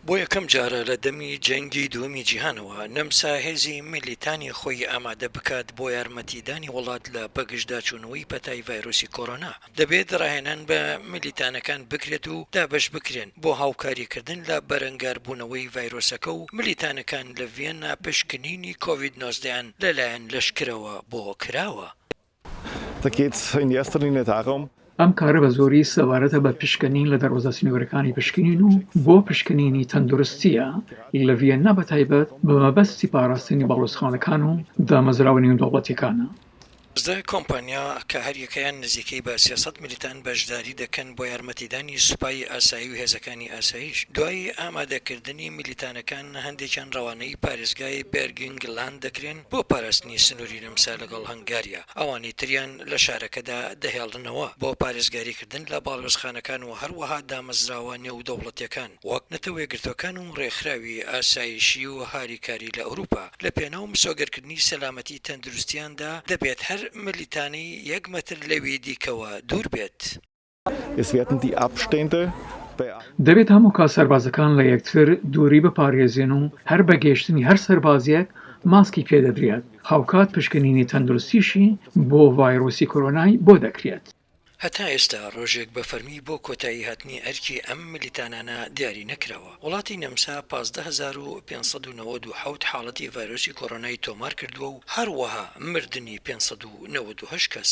بۆ یەکەم جارە لە دەمی جەنگی دووەمی جیهانەوە، نەمسا هێزی میلیتانی خۆی ئامادە بکات بۆ یارمەتیدانی وڵات لە بەگژداچوونەوەی پەتای ڤایرۆسی کۆرۆنا، دەبێت راهێنان بە میلیتانەکان بکرێت و دابەش بکرێن بۆ هاوکاریکردن لە بەرەنگاربوونەوەی ڤایرۆسەکە و میلیتانەکان لە ڤیەننا پشکنینی کۆڤید نۆزدە یان لەلایەن لەشکرەوە بۆ کراوە. ئەم کارە بە زۆری سەبارەتە بە پشکنین لە دەروازە سنوورەکانی پشکنین و بۆ پشکنینی تەندروستییە لە ڤیەننا بە تایبەت بە مەبەستی پاراستنی باڵوێزخانەکان و دامەزراوە نێودەوڵەتییەکانە. سێ کۆمپانیا کە هەریەکەیان نزیکەی بە سێ سەد ملیتان بەشداری دەکەن بۆ یارمەتیدانی سوپای ئاسایی و هێزەکانی ئاسایش دوای ئامادەکردنی ملیتانەکان هەندێکیان ڕەوانەی پارێزگای بێرگنگ لاند دەکرێن بۆ پاراستنی سنووری نەمسا لەگەڵ هەنگاریا، ئەوانی تریان لە شارەکەدا دەهێڵنەوە بۆ پارێزگاریکردن لە باڵیۆزخانەکان و هەروەها دامەزراوە نێودەوڵەتییەکان وەک نەتەوەیەکگرتووەکان و ڕێکخراوی ئاسایشی و هاریکاری لە ئەوروپا لەپێناو مسۆگەرکردنی سەلامەتی تەندروستییاندا دەبێت هەر ملیتانی یەک مەتر لەوی دیکەوە دوور بێت. دەبێت هەموو کات سەربازەکان لە یەکتر دووری بپارێزێن و هەر بە گەیشتنی هەر سەربازێک ماسکی پێ دەدرێت، هاوکات پشکنینی تەندروستیشی بۆ ڤایرۆسی کۆرۆنای بۆ دەکرێت. هەتا ئێستا ڕۆژێک بە فەرمی بۆ کۆتایی هاتنی ئەرکی ئەم ملیتانانە دیاری نەکراوە. وڵاتی نەمسا پازدە هەزار و پێنج سەد و نەوەد و حەوت حاڵەتی ڤایرۆسی کۆرۆنای تۆمار کردووە و هەروەها مردنی پێنج سەد و نەوەد و هەشت کەس.